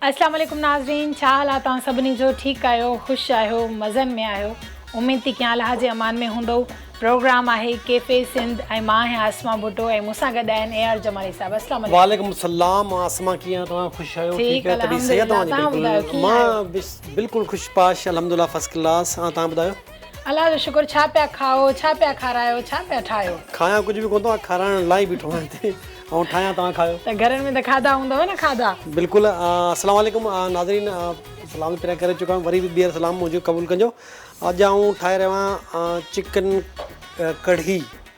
اسلام عليڪم ناظرين ڇا حال آ توهان سڀني جو ٺيڪ آهيو خوش آهيو مزن ۾ آهيو اميد ٿي ڪيان الله جي امان ۾ هوندئو پروگرام آهي ڪيفي سنڌ ۽ مان آهيان اسما ڀٽو ۽ مون سان گڏ آهن اي آر جمالي صاحب اسلام عليڪم وعليڪم السلام اسما ڪيئن آهيو توهان خوش آهيو ٺيڪ آهيو طبيعت صحيح آ توهان جي بلڪل مان بلڪل خوش پاش الحمدلله فرسٽ ڪلاس ۽ توهان ٻڌايو الله جو شڪر ڇا پيا کائو ڇا پيا کارايو ڇا پيا ٺاهيو. کايان ڪجهه به ڪونه ٿو آ کارائڻ لاء ئي بيٺو آهيان هتي ۽ ٺاهيان توهان کايو. ته گهرن ۾ ته کاڌا هوندو نه کاڌا. بلڪل السلام عليڪم ناظرين سلام پھريان ڪري چڪو آھيان وري به ٻيھر سلام منھنجو قبول ڪجو اڄ آئون ٺاھي رھيو آھيان چڪن ڪڙھي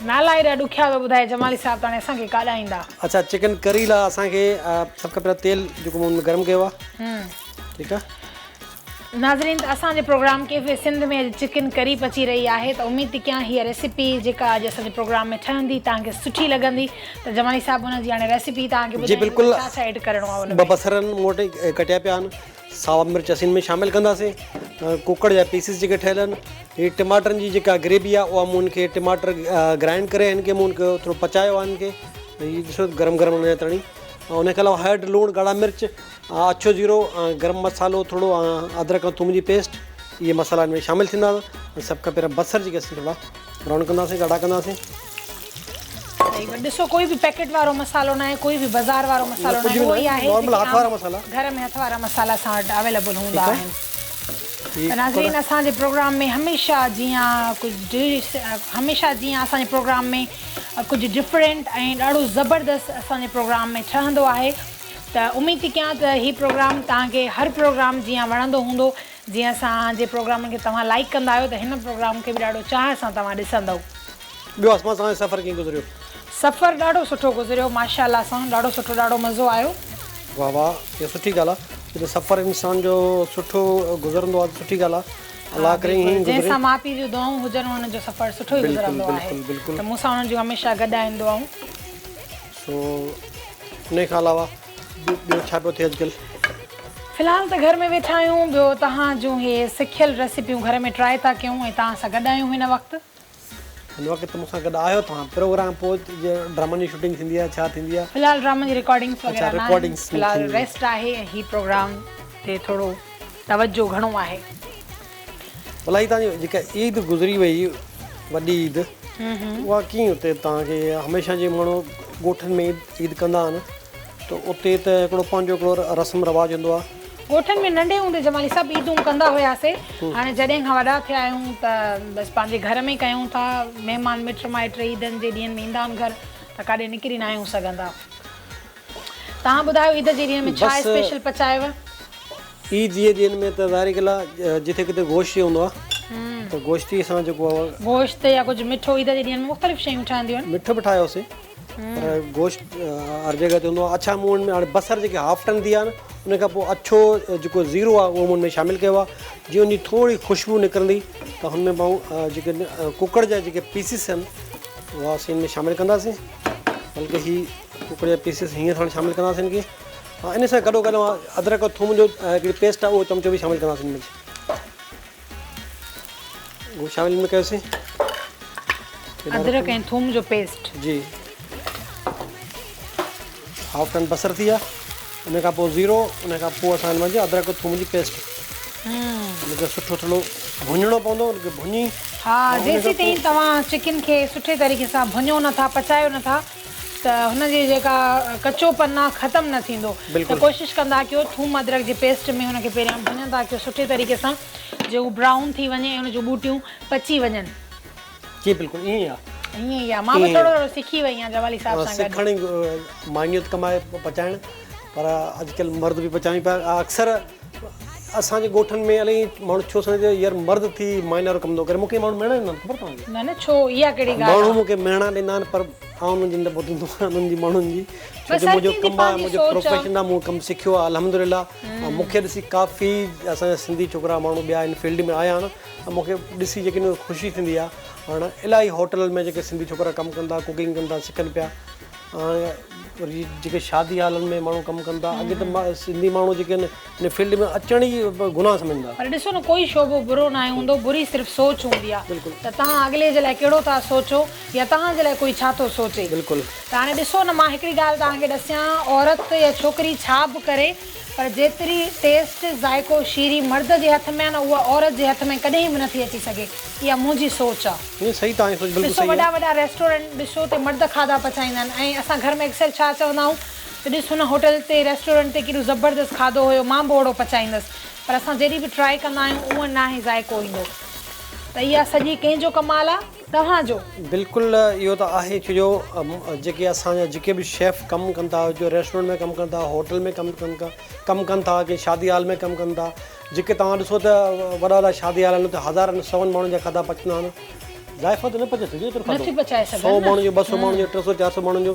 نالا ايڏا ڏکيا ٿو ٻڌائي جمالي صاحب ته هاڻي اسان کي ڪاڏا ايندا. اڇا چڪن ڪري لا اسان کي سڀ کان پهريان تيل جيڪو مون ۾ گرم ڪيو آهي ٺيڪ آهي. ناظرين ته اسان جي پروگرام ڪيف سنڌ ۾ اڄ چڪن ڪري پچي رهي آهي ته اميد ٿي ڪيان هي ريسيپي جيڪا اڄ اسان جي پروگرام ۾ ٺهندي توهان کي سٺي لڳندي ته جمالي صاحب ان جي هاڻي ريسيپي توهان کي ٻڌائيندو ته ڇا ڇا ايڊ ڪرڻو آهي ان ۾. جي بلڪل ٻه بصر مون وٽ ڪٽيا پيا آهن ساوا مرچ اسين ۾ شامل ڪنداسين ڪوڪڙ جا پيسز جيڪي ٺهيل آهن هي ٽماٽرن جي جيڪا گريوي آهي اها مون کي ٽماٽر گرائنڊ ڪري هن کي مون کي ٿورو پچايو آهن کي هي ڏسو گرم گرم هن تڻي ان کي علاوه هيڊ لوڻ ڳاڙا مرچ اڇو زيرو گرم مصالحو ٿورو ادرڪ ۽ ٿوم جي پيسٽ اهي مصالحا هن ۾ شامل ٿيندا سڀ کان پهريان بصر جيڪي اسين ٿورا براؤن ڪنداسين ڳاڙا ڪنداسين صحيح ڏسو ڪوئي به پيڪٽ وارو مصالحو ناهي ڪوئي به بازار وارو مصالحو ناهي اهو ئي آهي نارمل هٿ وارا مصالحا گهر ۾ هٿ وارا مصالحا اسان وٽ اويليبل هوندا آهن ته ناظرين اسان جي پروگرام ۾ هميشه جيان ڪجهه ڊش هميشه جيان اسان جي پروگرام ۾ ڪجهه ڊفرنٽ ۽ ڏاڍو زبردست اسان جي پروگرام ۾ ٺهندو آهي ته اميد ٿي ڪيان ته هي پروگرام توهان کي هر پروگرام جيان وڻندو هوندو جيئن اسان جي پروگرامن کي توهان لائڪ ڪندا آهيو ته هن پروگرام کي به ڏاڍو چاهه سان توهان ڏسندو ٻيو اسما توهان جو سفر ڪيئن گذريو. سفر ڏاڍو سٺو گذريو ماشاءالله سان ڏاڍو سٺو ڏاڍو مزو آيو. واھ واھ اھا سٺي ڳالھ آ جڏھن سفر انسان جو سٺو گذرندو آ ته سٺي ڳالھ آ الله ڪري ائين ئي گذري. جنھن سان ماء پيء جون دعائون ھجن انھن جو سفر سٺو ئي گذرندو آھي ته مون سان انھن جون ھميشه گڏ آھن دعائون. سو انھي کان علاوه ٻيو ڇا پيو ٿئي اڄڪلھ. في الحال ته گھر ۾ ويٺا آھيون ٻيو توھان جون ھي سکيل ريسيپيون گھر ۾ ٽرائي ٿا ڪيون ۽ توھان سان گڏ آھيون ھن وقت. هن وقت مون سان گڏ آهيو توهان پروگرام پوء ڊرامن جي شوٽنگ ٿيندي آهي ڇا ٿيندي آهي فلحال ڊرامن جي رڪارڊنگس وغيره نه آهن فلحال ريسٽ آهي ۽ هي پروگرام تي ٿورو توجهه گهڻو آهي بلا هي توهان جي جيڪا عيد گذري وئي وڏي عيد اها ڪيئن اتي توهان کي هميشه جي ماڻهو ڳوٺن ۾ عيد ڪندا آهن ته اتي ته هڪڙو پنهنجو هڪڙو رسم رواج هوندو آهي ڳوٺن ۾ ننڍي هوندي جمالي سڀ عيدون ڪندا هياسي هاڻي جڏهن کان وڏا ٿيا آهيون ته بس پنهنجي گهر ۾ ڪيون ٿا مهمان مٽ مائٽ عيدن جي ڏينهن ۾ ايندا آهن گهر ته ڪاڏي نڪري ناهيون سگهندا تهان ٻڌايو عيد جي ڏينهن ۾ ڇا اسپيشل پچايو. عيد جي ڏينهن ۾ ته ظاهري ڳالهه آهي جتي ڪٿي گوشت ئي هوندو آهي ته گوشت ئي اسان جيڪو آهي. گوشت يا ڪجهه مٺو عيد جي ڏينهن ۾ مختلف شيون ٺهنديون آهن. مٺو به ٺاهيوسي. گوشت هر جڳهه تي هوندو آهي اڇا مون ۾ هاڻي بصر جيڪي هاف ٽن ٿي ويا آهن ان کان پوء اڇو جيڪو زيرو آهي اهو مون ۾ شامل ڪيو آهي جيئن ان جي ٿوري خوشبو نڪرندي ته هن ۾ پاڻ جيڪي ڪڪڙ جا جيڪي پيسز آهن اهو اسين ان ۾ شامل ڪنداسين بلڪه هي ڪڪڙ جا پيسز هيئن ساڻ شامل ڪنداسين ان کي ان سان گڏو گڏ ادرڪ ٿوم جو هڪڙي پيسٽ آهي اهو چمچو به شامل ڪنداسين شامل ۾ ڪيوسين ادرڪ ۽ ٿوم جو پيسٽ جي هاف ٽن بصر ٿي ويا ان کان پوء زيرو ان کان پوء اسان هن جي ادرڪ ٿوم جي پيسٽ ان کي سٺو ٿورو ڀڃڻو پوندو ان کي ڀڃي ها جيسين تائين توهان چڪن کي سٺي طريقي سان ڀڃو نٿا پچايو نٿا ته هن جي جيڪا ڪچو پن آ ختم نه ٿيندو ته ڪوشش ڪندا ڪيو ٿوم ادرڪ جي پيسٽ ۾ هن کي پهريان ڀڃندا ڪيو سٺي طريقي سان جو هو برائون ٿي وڃي ۽ هن جون ٻوٽيون پچي وڃن جي بلڪل ائين ئي آ ائين ئي آ مان به ٿورو ٿورو سکي وئي آهيان جوالي صاحب سان گڏ سکڻ ماڻيو ته ڪم آهي پچائڻ پر اڄڪلهه مرد به پچائين پيا اڪثر اسان جي ڳوٺن ۾ الائي ماڻهو ڇو سمجهن ٿا يار مرد ٿي مائنا وارو ڪم ٿو ڪري مون کي ماڻهو مهڻا ڏيندا آهن خبر توهان کي. نه نه ڇو اها ڪهڙي ڳالهه آهي. ماڻهو مون کي مهڻا ڏيندا آهن پر آئون انهن جي نه ٻڌندو آهيان انهن جي ماڻهن جي ڇو جو منهنجو ڪم آهي منهنجو پروفيشن آهي مون ڪم سکيو آهي الحمدلله ۽ مون کي ڏسي ڪافي اسان جا سنڌي ڇوڪرا ماڻهو ٻيا ان فيلڊ ۾ آيا آهن ۽ مون کي ڏسي جيڪي خوشي ٿيندي آهي هاڻ الائي هوٽلن ۾ جيڪي سنڌي ڇوڪرا ڪم ڪن ٿا ڪوڪنگ ڪن ٿا سکن پيا هاڻي وري جيڪي شادي هالن ۾ ماڻهو ڪم ڪن ٿا اڳي ته سنڌي ماڻهو جيڪي آهن ان فيلڊ ۾ اچڻ ئي گناهه سمجهن ٿا. پر ڏسو نه ڪوئي شعبو برو ناهي هوندو بري صرف سوچ هوندي آهي بلڪل ته توهان اڳلي جي لاء ڪهڙو ٿا سوچو يا توهان جي لاء ڪوئي ڇا ٿو سوچي بلڪل ته هاڻي ڏسو نه مان هڪڙي ڳالهه توهان کي ڏسيان عورت يا ڇوڪري ڇا به ڪري پر جيتري ٽيسٽ، ذائقو، شيري مرد جي هٿ ۾ آ نه اها عورت جي هٿ ۾ ڪڏهن به نٿي اچي سگهي. اها منهنجي سوچ آ. نه صحيح توهان جي سوچ بلڪل ڏسو صحيح وڏا آ. وڏا ريسٽورنٽ ڏسو اتي مرد کاڌا پچائيندا آهن ۽ اسان گهر ۾ اڪثر ڇا چوندا آهيون ته ڏس هن هوٽل تي ريسٽورنٽ تي ڪيڏو زبردست کاڌو هيو مان به اوهڙو پچائيندس پر اسان جڏهن به ٽرائي ڪندا آهيون اونهن ناهي ذائقو ايندو ته اها سڄي ڪنهن جو ڪمال آ؟ توهان جو. بلڪل اهو ته آهي ڇو جو جيڪي اسان جا جيڪي به شيف ڪم ڪن ٿا جو ريسٽورنٽ ۾ ڪم ڪن ٿا هوٽل ۾ ڪم ڪن ڪا ڪم ڪن ٿا ڪي شادي هال ۾ ڪم ڪن ٿا جيڪي توهان ڏسو ته وڏا وڏا شادي هال آهن اتي هزارن سون ماڻهن جا کاڌا پچندا آهن ذائقو ته نه پچائي سگهجي ايترو کاڌو نٿي پچائي سگهن سو ماڻهن جو ٻه سو ماڻهن جو ٽي سو چار سو ماڻهن جو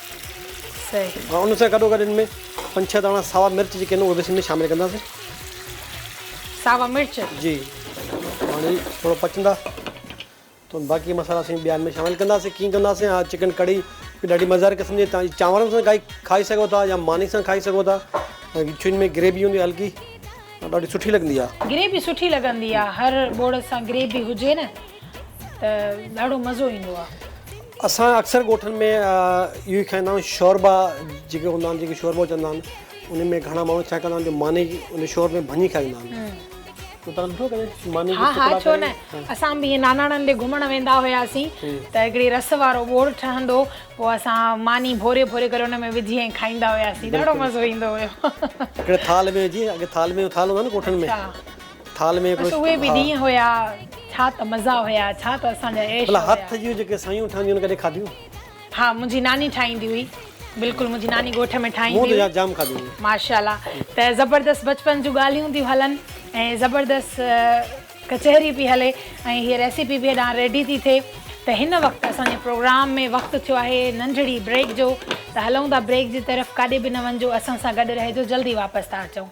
سي. ان سان گڏو گڏ ان ۾ پنج ڇهه داڻا ساوا مرچ جيڪي آهن اهي به اسين ۾ شامل ڪنداسين. ساوا مرچ. جي هاڻي ٿورو پچندا ته باقي مصالحا اسين ٻيا ان ۾ شامل ڪنداسين ڪيئن ڪنداسين اها چڪن ڪڙهي به ڏاڍي مزيدار قسم جي تان چانورن سان کائي کائي سگهو ٿا يا ماني سان کائي سگهو ٿا ڇو ان ۾ گريوي هوندي هلڪي ڏاڍي سٺي لڳندي آهي. گريوي سٺي لڳندي آهي هر ٻوڙ سان گريوي هجي نه ته ڏاڍو مزو ايندو آهي. اسان اڪثر ڳوٺن ۾ اهو ئي کائيندا آهيون شوربا جيڪي هوندا آهن جيڪي شوربو چوندا آهن ان ۾ گهڻا ماڻهو ڇا ڪندا آهن جو ماني ان شوربي ۾ ڀڃي کائيندا آهن ها ها ڇو نه اسان به ائين ناناڻن ڏي گهمڻ ويندا هياسين ته هڪڙي رس وارو ٻوڙ ٺهندو هو پوء اسان ماني ڀوري ڀوري ڪري ان ۾ وجهي ائين کائيندا هياسين ڏاڍو مزو ايندو هيو هڪڙي ٿال ۾ وجهي اڳي ٿال ۾ ٿال هوندا آهن ڳوٺن ۾ ٿال ۾ هڪڙو بس اهي به ڏينهن هيا ڇا ته مزا هيا ڇا ته اسان جا عيش هيا. ڀلا هٿ جون جيڪي سيون ٺهنديون هن ڪڏهن کاڌيون. ها منهنجي ناني ٺاهيندي هئي بلڪل منهنجي ناني ڳوٺ ۾ ٺاهيندي هئي. مون ته جام کاڌيون هيون. ماشاءالله ته زبردست بچپن جون ڳالهيون ٿيون هلن ۽ زبردست ڪچهري پي هلي ۽ هي ريسيپي به هيڏانهن ريڊي ٿي ٿئي ته هن وقت اسان جي پروگرام ۾ وقت ٿيو آهي ننڍڙي بريڪ جو ته هلون ٿا بريڪ جي طرف ڪاڏي به نه وڃجو اسان سان گڏ رهجو جلدي واپس ٿا اچون.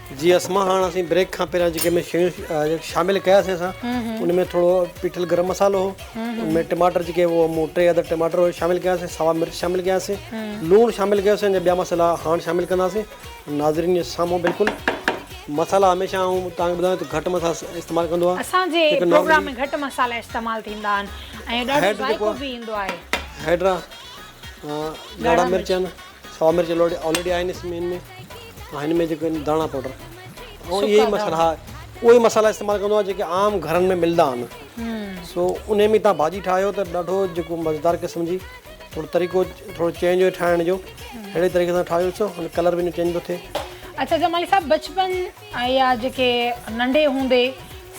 جي اسما هاڻ اسين بريڪ کان پهريان جيڪي ۾ شيون شامل ڪياسين اسان ان ۾ ٿورو پيٺل گرم مصالحو هو ان ۾ ٽماٽر جيڪي هو مون ٽي عدد ٽماٽر شامل ڪياسين سوا مرچ شامل ڪياسين لوڻ شامل ڪياسين ان جا ٻيا مصالحا هاڻ شامل ڪنداسين ناظرين جي سامهون بلڪل مصالحا هميشه آئون تانکي ٻڌايان ته گهٽ مصالحا استعمال ڪندو آهيان اسان جي پروگرام ۾ گهٽ مصالحا استعمال ٿيندا آهن ۽ ڏاڍو ذائقو به ايندو آهي هيڊ را ڳاڙها مرچ آهن سوا مرچ آلريڊي آهن اس ۾ ۽ هن ۾ جيڪو داڻا پوڊر ۽ اهي ئي مصالحا ها اهي ئي مصالحا استعمال ڪندو آهيان جيڪي عام گهرن ۾ ملندا آهن سو ان ۾ تان ڀاڄي ٺاهيو ته ڏاڍو جيڪو مزيدار قسم جي ٿورو طريقو ٿورو چينج هو ٺاهڻ جو اهڙي طريقي سان ٺاهيو ڏسو هن ڪلر به چينج ٿو ٿئي اچھا جمالي صاحب بچپن ۽ يا جيڪي ننڍي هوندي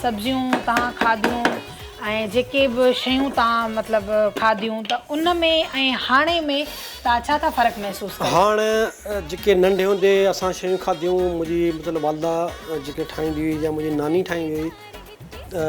سبزيون تان کاڌيون ۽ جيڪي به شيون تان مطلب کاڌيون ته ان ۾ ۽ هاڻي ۾ تان ڇا ٿا فرق محسوس ڪريو. هاڻ جيڪي ننڍي هوندي اسان شيون کاڌيون منهنجي مطلب والده جيڪي ٺاهيندي هئي يا منهنجي ناني ٺاهيندي هئي ته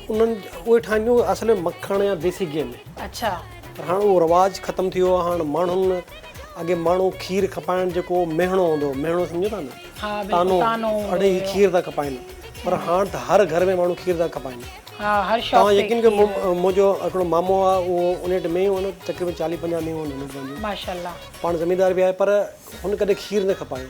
انهن اهي ٺاهينديون اصل ۾ مکڻ يا ديسي گيهه ۾. اڇا. پر هاڻ اهو رواج ختم ٿي ويو آهي هاڻ ماڻهن اڳي ماڻهو کير کپائڻ جيڪو مهڻو هوندو هو، مهڻو سمجهو ٿا نه؟ ها بلڪل طعنو هوندو هو. اڙي هي کير ٿا کپائن پر هاڻ ته هر گهر ۾ ماڻهو کير ٿا کپائن. ها هر شاپ تي کير. توهان يقين ڪيو منهنجو هڪڙو مامو آ اهو انهيٽ مينهن هو نه تقريبن چاليهه پنجاهه مينهن هو انهيٽ پنهنجو. ماشاء الله. پاڻ زميندار به آهي پر هن ڪڏهن کير نه کپايو.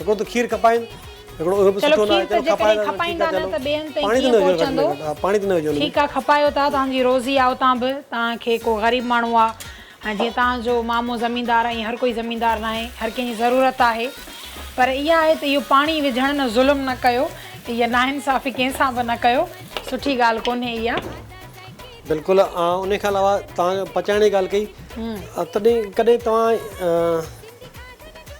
هڪڙو ته کير کپائين هڪڙو اهو به سٺو نه آهي چلو کپائي ٿا ٺيڪ آهي چلو پاڻي ته نه وجهو گهٽ ۾ گهٽ پاڻي ته نه وجهو ٺيڪ آهي کپايو ٿا توهان جي روزي آهي اتان به توهان کي ڪو غريب ماڻهو آهي ۽ جيئن توهان جو مامو زميندار آهي ائين هر ڪوئي زميندار نه آهي هر ڪنهن جي ضرورت آهي پر اها آهي ته اهو پاڻي وجهڻ نه ظلم نه ڪيو اها ناانصافي ڪنهن سان به نه ڪيو سٺي ڳالهه ڪونهي اها. بلڪل ان کان علاوه توهان پچائڻ جي ڳالهه ڪئي تڏهن ڪڏهن توهان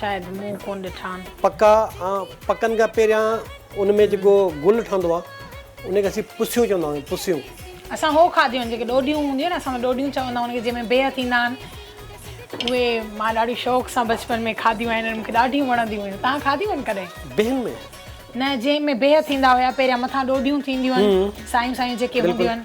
شايد مون ڪونه ڏٺا آهن. پکا ۽ پکن کان پهريان ان ۾ جيڪو گل ٺهندو آهي ان کي اسين پسيون چوندا آهيون پسيون. اسان هو کاڌيون آهن جيڪي ڏوڏيون هونديون آهن اسان ۾ ڏوڏيون چوندا آهن جنهن ۾ بيهه ٿيندا آهن اهي مان ڏاڍي شوق سان بچپن ۾ کاڌيون آهن مون کي ڏاڍيون وڻنديون هيون تان کاڌيون آهن ڪڏهن. بيهن ۾. نه جنهن ۾ بيهه ٿيندا هيا پهريان مٿان ڏوڏيون ٿينديون آهن سايون سايون جيڪي هونديون آهن.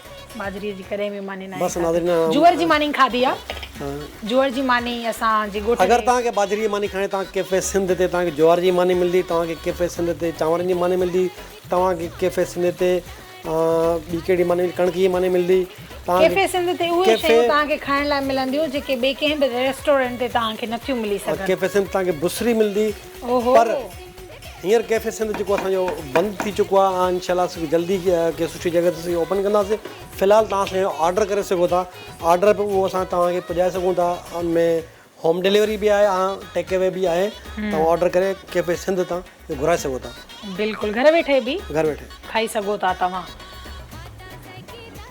ٻاجھري جي ڪڏهن به ماني ناهي کاڌي. جوئر جي ماني کاڌي آ. جوئر جي ماني اسان جي ڳوٺ تي. اگر توهان کي ٻاجھري جي ماني کائڻي ته توهان کي ڪيفي سنڌ تي توهان کي جوئر جي ماني ملدي توهان کي ڪيفي سنڌ تي چانورن جي ماني ملدي توهان کي ڪيفي سنڌ تي ٻي ڪهڙي ماني ڪڻڪ جي ماني ملدي توهان کي ڪيفي سنڌ تي اهي شيون توهان کي کائڻ لاء ملنديون جيڪي ٻي ڪنهن به ريسٽورنٽ تي توهان کي نٿيون ملي سگهن. ڪيفي سنڌ تي توهان کي بصري ملدي پر. هينئر ڪيفي سنڌ جيڪو اسان جو بند ٿي چڪو آهي آئون انشاء الله سو جلدي ڪنهن سٺي جڳهه تي سي اوپن ڪنداسي في الحال توهان اسان جو آرڊر ڪري سگهو ٿا آرڊر به اهو اسان توهان کي پڄائي سگهون ٿا ان ۾ هوم ڊليوري به آهي آئون ٽيڪ اوي به آهي توهان آرڊر ڪري ڪيفي سنڌ تان گهرائي سگهو ٿا بلڪل گهر ويٺي به گهر ويٺي کائي سگهو ٿا توهان.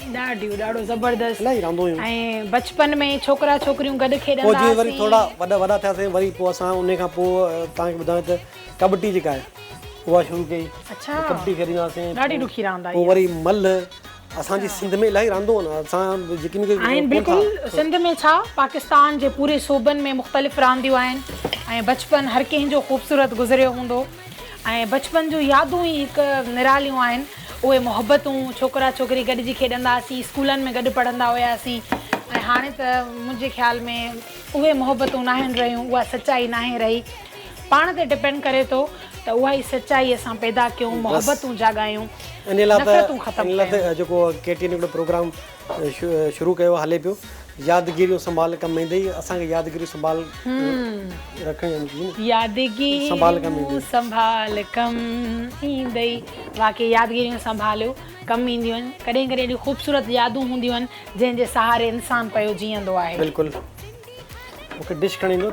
ڏاڍيون ڏاڍو زبردست الاهي راندو هيون ۽ بچپن ۾ ڇوڪرا ڇوڪريون گڏ کيڏندا هئاسين پوء جي وري ٿورا وڏا وڏا ٿياسين وري پوء اسان انهي کان پوء توهان کي ٻڌايان ته ڪٻٽي جيڪا آهي اها شروع ڪئي اڇا ڪٻٽي کيڏيندا هئاسين ڏاڍي ڏکي راند آهي پوء وري ملهه اسان جي سنڌ ۾ الاهي راندو آهن اسان جيڪي مون کي آهن بلڪل سنڌ ۾ ڇا پاڪستان جي پوري صوبن ۾ مختلف رانديون آهن ۽ بچپن هر ڪنهن جو خوبصورت گذريو هوندو ۽ بچپن جون يادون ئي هڪ نراليون آهن اهي محبتون، ڇوڪرا ڇوڪري گڏجي کيڏندا هئاسين، اسڪولن ۾ گڏ پڙهندا هياسين ۽ هاڻي ته منهنجي خيال ۾ اهي محبتون ناهن رهيون، اها سچائي ناهي رهي. پاڻ تي ڊپينڊ ڪري ٿو ته اها ئي سچائي اسان پيدا ڪيون، محبتون جاڳايون، نفرتون ختم ڪيون. شروع ڪيو هلي پيو يادگيريون سنڀال ڪم ايندي اسان کي يادگيريون سنڀال رکڻيون يادگيريون سنڀال ڪم ايندي واقعي يادگيريون سنڀاليو ڪم اينديون آهن ڪڏهن ڪڏهن اهڙيون خوبصورت يادون هونديون آهن جنهن جي سهاري انسان پيو جيئندو آهي بلڪل مون کي ڊش کڻي ڏيو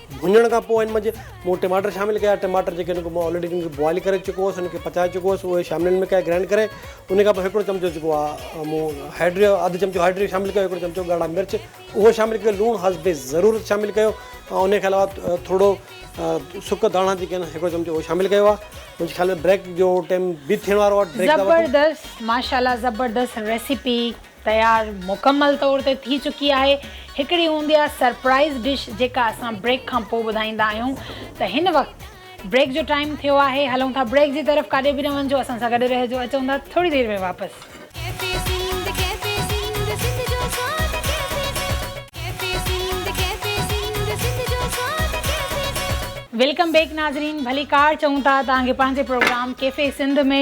ڀڃڻ کان پوء ان منجهه مون ٽماٽر شامل ڪيا ٽماٽر جيڪي ان کي مون آلريڊي ان کي بوائل ڪري چڪو هوس ان کي پچائي چڪو هوس اهي شامل ان ۾ ڪيا گرائنڊ ڪري ان کان پوء هڪڙو چمچو جيڪو آهي مون هيڊ اڌ چمچو هيڊ شامل ڪيو هڪڙو چمچو ڳاڙها مرچ اهو شامل ڪيو لوڻ حسب ضرورت شامل ڪيو ان کان علاوه ٿورڙو سڪ ڌاڻا جيڪي آهن هڪڙو چمچو اهو شامل ڪيو آهي منهنجي خيال ۾ بريڪ جو ٽيم به ٿيڻ وارو آهي بريڪ زبردست ماشاءالله زبردست ريسيپي. تيار مڪمل طور تي ٿي چڪي آهي. هڪڙي هوندي آهي سرپرائيز ڊش جيڪا اسان بريڪ کان پوء ٻڌائيندا آهيون ته هن وقت بريڪ جو ٽائيم ٿيو آهي هلون ٿا بريڪ جي طرف ڪاڏي به نه وڃجو اسان سان گڏ رهجو اچون ٿا ٿوري دير ۾ واپس. ڪيفي سنڌ ڪيفي سنڌ سنڌ جو سواد cafe Sindh cafe Sindh cafe Sindh Sindh جو سواد ڪيفي سنڌ. ويلڪم بيڪ ناظرين ڀلي ڪار چئون ٿا توهان کي پنهنجي پروگرام ڪيفي سنڌ ۾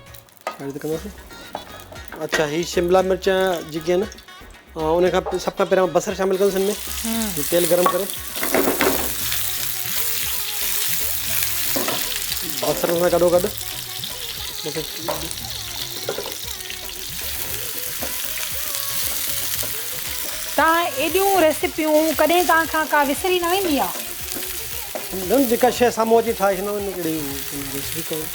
اچھا هي شملا مرچ جيڪي آهن ان کان سڀ کان پهريان بصر شامل ڪندس ان ۾ تيل گرم ڪري بصر سان گڏو گڏ تان ايڏيون ريسيپيون ڪڏهن تان کان ڪا وسري نه ويندي آ نه جيڪا شي سامهون اچي ٺاهي ڇڏيندو آ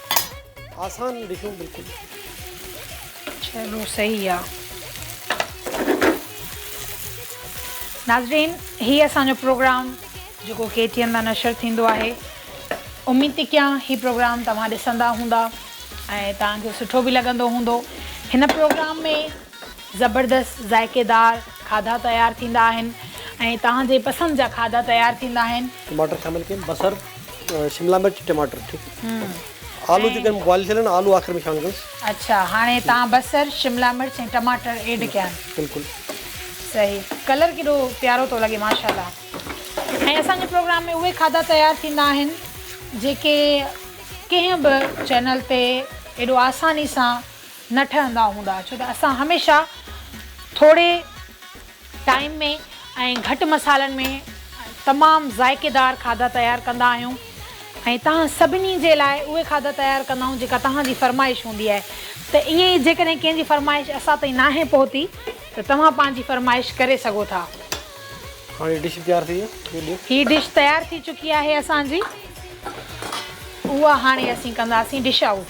آسان ڊشون بلڪل. چلو صحيح آ. ناظرين هي اسان جو پروگرام جيڪو ڪي ٽي اين تان نشر ٿيندو آهي اميد ٿي ڪيان هي پروگرام توهان ڏسندا هوندا ۽ توهان کي سٺو به لڳندو هوندو هن پروگرام ۾ زبردست ذائقيدار کاڌا تيار ٿيندا آهن ۽ توهان جي پسند جا کاڌا تيار ٿيندا آهن. ٽماٽر شامل ڪين بصر شملا مرچ ٽماٽر ٺيڪ آلو جي ڪن بوائل ٿيل آهن آلو آخر ۾ شامل ڪندس. اڇا هاڻي توهان بصر شملا مرچ ۽ ٽماٽر ايڊ ڪيا آهن بلڪل صحيح ڪلر ڪيڏو پيارو ٿو لڳي ماشاءالله ۽ اسان جي پروگرام ۾ اهي کاڌا تيار ٿيندا آهن جيڪي ڪنهن به چينل تي ايڏو آساني سان نه ٺهندا هوندا ڇو ته اسان هميشه ٿوري ٽائيم ۾ ۽ گهٽ مصالحن ۾ تمام ذائقيدار کاڌا تيار ڪندا آهيون ۽ توهان سڀني جي لاء اهي کاڌا تيار ڪندا آهيون جيڪا توهان جي فرمائش هوندي آهي ته ائين ئي جيڪڏهن ڪنهن جي فرمائش اسان تائين ناهي پهتي ته توهان پنهنجي فرمائش ڪري سگهو ٿا. هاڻي ڊش تيار ٿي وئي ڏيو. هي ڊش تيار ٿي چڪي آهي اسان جي اها هاڻي اسين ڪنداسين ڊش آئوٽ.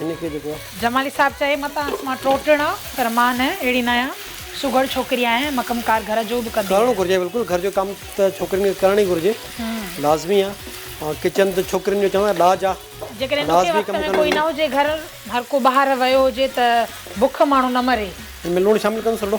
هن کي جيڪو. جمالي صاحب چئي متان اس مان ٽو ٽڻ آ پر مان نه اهڙي نه آهيان سگهڙ ڇوڪري آهيان ۽ مڪم ڪار گهر جو به ڪندي ڪرڻو گهرجي بلڪل گهر جو ڪم ته ڇوڪرين کي ڪرڻ ئي گهرجي لازمي آ ۽ ڪچن ته ڇوڪرين جو چوان ڏاج آ جيڪڏهن ڏکي لازمي وقت ڪم ۾ ڪرڻ ڪوئي نه گهرجي. هجي گهر هر ڪو ٻاهر ويو هجي ته بک ماڻهو نه مري. هن ۾ لوڻ شامل ڪندس رڍو.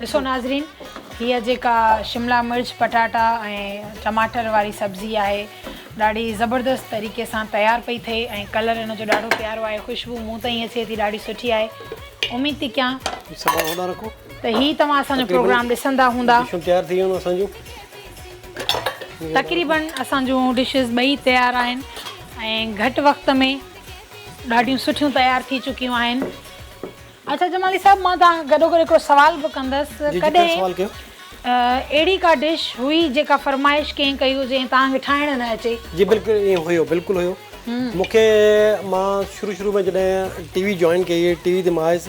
ڏسو ناظرين هيء جيڪا شملا مرچ پٽاٽا ۽ ٽماٽر واري سبزي آهي ڏاڍي زبردست طريقي سان تيار پئي ٿئي ۽ ڪلر ان جو ڏاڍو پيارو آهي خوشبو مون تائين اچي ٿي ڏاڍي سٺي آهي اميد ٿي ڪيان ته هي توهان اسان جو پروگرام ڏسندا هوندا تيار ٿي ويون اسان جون تقريبن اسان جون ڊشز ٻئي تيار آهن ۽ گهٽ وقت ۾ ڏاڍيون سٺيون تيار ٿي چڪيون آهن اچا جمالي صاحب مان توهان کان گڏوگڏ هڪڙو سوال به ڪندس ڪڏهن اهڙي ڪا ڊش هئي جيڪا فرمائش ڪنهن ڪئي هجي ۽ توهان کي ٺاهڻ نه اچي. جي بلڪل ائين هيو بلڪل هيو مونکي مان شروع شروع ۾ جڏهن ٽي وي جوائن ڪئي هئي ٽي وي تي مان آيس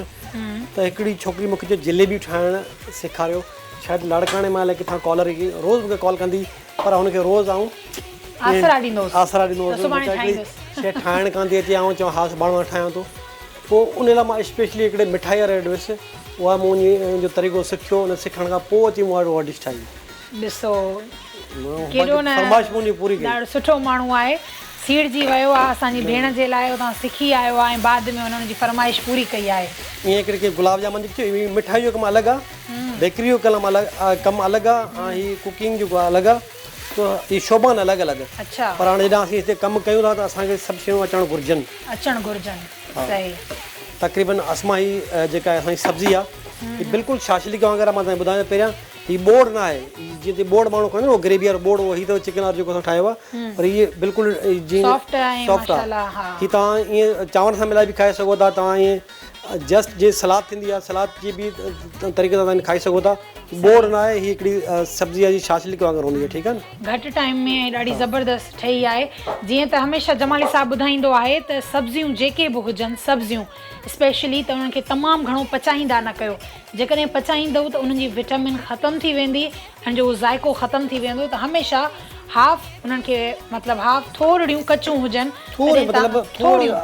ته هڪڙي ڇوڪري مونکي جليبي ٺاهڻ سيکاريو شايد لاڙڪاڻي مان الائي ڪٿان ڪالر روز مونکي ڪال ڪندي هئي پر هن کي روز آئون آسرا ڏيندو هوس آسرا ڏيندو هوس سڀاڻي ٺاهيندس شي ٺاهڻ ڪانڌي اچي آئون چون ها سڀاڻي مان ٺاهيان ٿو پوء ان لاء مان اسپيشلي هڪڙي مٺائي واري وٽ ويس اها مون ان جو طريقو سکيو ان سکڻ کان پوء اچي مون وٽ ڊش ٺاهي ڏسو ڪيڏو نه فرمائش منهنجي پوري ڪئي ڏاڍو سٺو ماڻهو آهي سيڙجي ويو آهي اسان جي ڀيڻ جي لاء اتان سکي آيو آهي ۽ بعد ۾ هن ان جي فرمائش پوري ڪئي آهي ائين ڪري ڪي گلاب جامن جي مٺائي جو ڪم الڳ آهي بيڪري جو ڪلم الڳ ڪم الڳ آ ۽ هي ڪوڪنگ جو ڪم الڳ آ تو هي شعبا آهن الڳ الڳ پر هاڻي هيڏانهن اسين هتي ڪم ڪيون ٿا ته اسان کي سڀ شيون اچڻ گهرجن اچڻ گهرجن صحيح تقريبن اسما هي جيڪا اسان جي سبزي آ هي بلڪل شاشليڪ وانگر آ مان توهان کي ٻڌايان ٿو پهريان هي ٻوڙ نه آهي جيئن تي ٻوڙ ماڻهو کائيندو آهي گريوي وارو ٻوڙ هي اٿيو چڪن وارو جيڪو اسان ٺاهيو آ پر هي بلڪل جيئن سافٽ آهي ماشاء الله هي توهان ائين چانور سان ملائي به کائي سگهو ٿا توهان ائين جسٽ جيئن سلاد ٿيندي آهي سلاد جي به طريقي سان تنهن کائي سگهو ٿا بور نه آهي هي هڪڙي سبزي جي شاشلڪ وانگر هوندي آهي ٺيڪ آهي نه گهٽ ٽائيم ۾ ڏاڍي زبردست ٺهي آهي جيئن ته هميشه جمالي صاحب ٻڌائيندو آهي ته سبزيون جيڪي به هجن سبزيون اسپيشلي ته انهن کي تمام گهڻو پچائيندا نه ڪيو جيڪڏهن پچائيندو ته انهن جي وٽامن ختم ٿي ويندي ان جو اهو ذائقو ختم ٿي ويندو ته هميشه هاف انهن کي مطلب هاف ٿورڙيون ڪچون هجن ٿورڙيون مطلب ٿورڙيون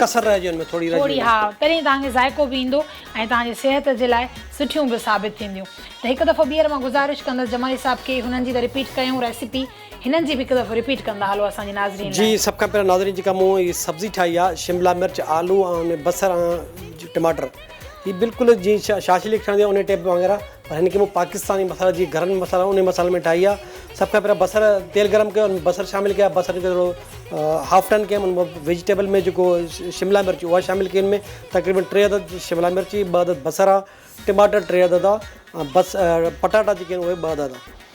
ڪسر رهجي ان ۾ ٿورڙي رهجي ٿورڙي ها تڏهن توهان کي ذائقو به ايندو ۽ توهان جي صحت جي لاء سٺيون به ثابت ٿينديون ته هڪ دفعو ٻيهر مان گذارش ڪندس جمالي صاحب کي هنن جي ته رپيٽ ڪيون ريسيپي هنن جي به هڪ دفعو رپيٽ ڪندا هلو اسان جي ناظرين جي سڀ کان پهريان ناظرين جيڪا مون هي سبزي ٺاهي آ شملا مرچ آلو ۽ بصر ۽ ٽماٽر هي بلڪل جي شاشلي ٺهندي آ انهي ٽيپ وانگر پر هن کي مون پاڪستاني مسالن جي گهرن ۾ مسالن انهي مسالن ۾ ٺاهي آهي سڀ کان پهريان بصر تيل گرم ڪيو ان بصر شامل ڪيا بصر کي ٿورو هاف ٽرن ڪيم ان مان ويجيٽيبل ۾ جيڪو شملا مرچ اها شامل ڪئي ان ۾ تقريبن ٽي عدد شملا مرچ ٻه عدد بصر آ ٽماٽر ٽي عدد آ بس پٽاٽا جيڪي آهن اهي ٻه عدد آ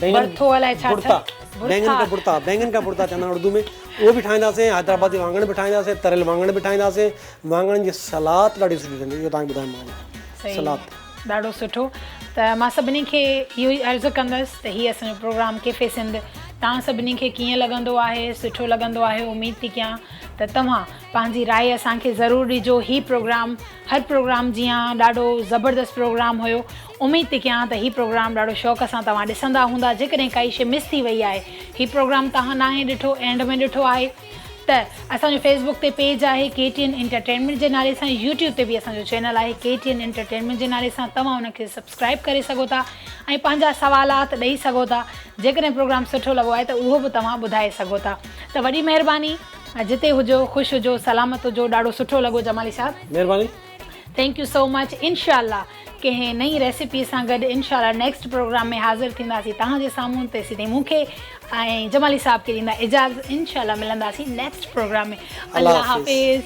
بينگن برٿو الائي ڇا برتا ٿيو بينگن کا برتا بينگن کا برتا چوندا آهن اردو ۾ اهو به ٺاهينداسين حيدرآبادي وانگڻ به ٺاهينداسين تريل وانگڻ به ٺاهينداسين وانگڻن جي سلاد ڏاڍي سٺي ٺهندي اهو تان ٻڌايم مانجي سلاد صحيح ڏاڍو سٺو ته مان سڀني کي اهو ئي عرض ڪندس ته هي اسان جو پروگرام ڪيفي سنڌ توهان سڀني کي ڪيئن لڳندو آهي سٺو لڳندو آهي اميد ٿي ڪيان ته توهان پنهنجي راء اسان کي ضرور ڏجو هي پروگرام هر پروگرام جيان ڏاڍو زبردست پروگرام هيو اميد ٿي ڪيان ته هي پروگرام ڏاڍو شوق سان توهان ڏسندا هوندا جيڪڏهن ڪائي شي مس ٿي وئي آهي هي پروگرام توهان ناهي ڏٺو اينڊ ۾ ڏٺو آهي ته اسان جو فيس بڪ تي پيج آهي ڪي ٽي اين انٽرٽينمينٽ جي نالي سان يوٽيوب تي به اسان جو چينل آهي ڪي ٽي اين انٽرٽينمينٽ جي نالي سان توهان ان کي سبسڪرائب ڪري سگهو ٿا ۽ پنهنجا سوالات ڏئي سگهو ٿا جيڪڏهن پروگرام سٺو لڳو آهي ته اهو به توهان ٻڌائي سگهو ٿا ته وڏي مهرباني جتي هجو خوش هجو سلامت هجو ڏاڍو سٺو لڳو جمالي صاحب. مهرباني. ٿينڪ يو سو مچ انشاء الله ڪنهن نئين ريسيپي سان گڏ انشاء الله نيڪسٽ پروگرام ۾ حاضر ٿينداسين توهان جي سامهون تي سيدي مون کي ۽ جمالي صاحب کي ڏيندا اجازت انشاء الله ملنداسين نيڪسٽ پروگرام ۾ الله حافظ.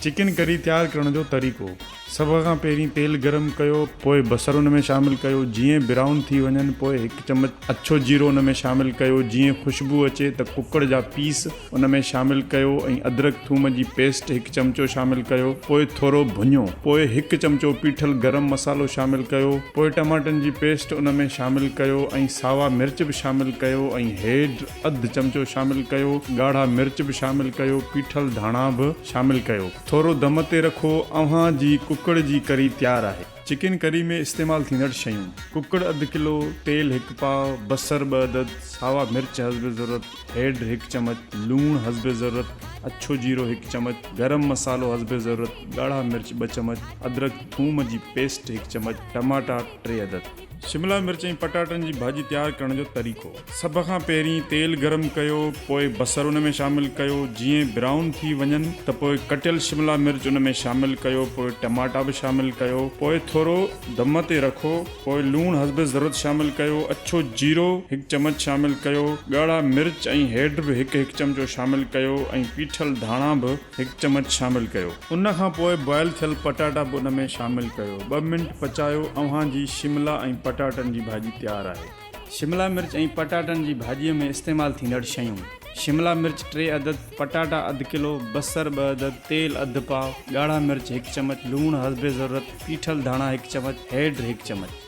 چڪن ڪري تيار ڪرڻ جو طريقو، سڀ کان پهرين تيل گرم ڪيو پوء بصر ان ۾ شامل ڪيو جيئن برائون ٿي وڃن پوء هڪ چمچ اڇو جيرو ان ۾ شامل ڪيو جيئن خوشبو اچي ته ڪڪڙ جا پيس ان ۾ شامل ڪيو ۽ ادرڪ ٿوم جي پيسٽ هڪ چمچو شامل ڪيو پوء ٿورو ڀڃو پوء هڪ چمچو پيٺل گرم مصالحو شامل ڪيو پوء ٽماٽن جي پيسٽ ان ۾ شامل ڪيو ۽ ساوا مرچ به شامل ڪيو ۽ هيڊ اڌ چمچو شامل ڪيو، ڳاڙها مرچ به شامل ڪيو، پيٺل ڌاڻا به شامل ڪيو. ٿورو دم تي رکو. اوهان جي ڪڪڙ جي ڪري تيار آهي. چڪن ڪري ۾ استعمال ٿيندڙ شيون، ڪڪڙ اڌ ڪلو، تيل هڪ پاء، بصر ٻه عدد، ساوا مرچ حسب ضرورت، هيڊ هڪ چمچ، لوڻ حسب ضرورت، اڇو جيرو هڪ چمچ، گرم مصالحو حسب ضرورت، ڳاڙها مرچ ٻه چمچ، ادرک ٿوم جي پيسٽ هڪ چمچ، ٽماٽا ٽي عدد. شملا مرچ ۽ پٽاٽن جي ڀاڄي تيار ڪرڻ جو طريقو. سڀ کان پهرين تيل گرم ڪيو پوء بصر ان ۾ شامل ڪيو جيئن برائون ٿي وڃن ته پوء ڪٽيل شملا مرچ ان ۾ شامل ڪيو پوء ٽماٽا به شامل ڪيو پوء ٿورو دم تي رکو پوء لوڻ حسب ضرورت شامل ڪيو اڇو جيرو هڪ چمچ شامل ڪيو ڳاڙها مرچ ۽ هيڊ به هڪ هڪ چمچو شامل ڪيو ۽ پيٺل ڌاڻا به هڪ چمچ شامل ڪيو. ان کان پوء بوائل ٿيل پٽاٽا به ان ۾ شامل ڪيو. ٻه منٽ پچايو اوهان جي شملا ۽ پٽاٽن جي ڀاڄي تيار آهي. شملا مرچ ۽ پٽاٽن جي ڀاڄي ۾ استعمال ٿيندڙ شيون، شملا مرچ ٽي عدد، پٽاٽا اڌ ڪلو، بصر ٻه عدد، تيل اڌ پاء، ڳاڙها مرچ هڪ چمچ، لوڻ حسب ضرورت، پيٺل ڌاڻا هڪ چمچ، هيڊ هڪ چمچ.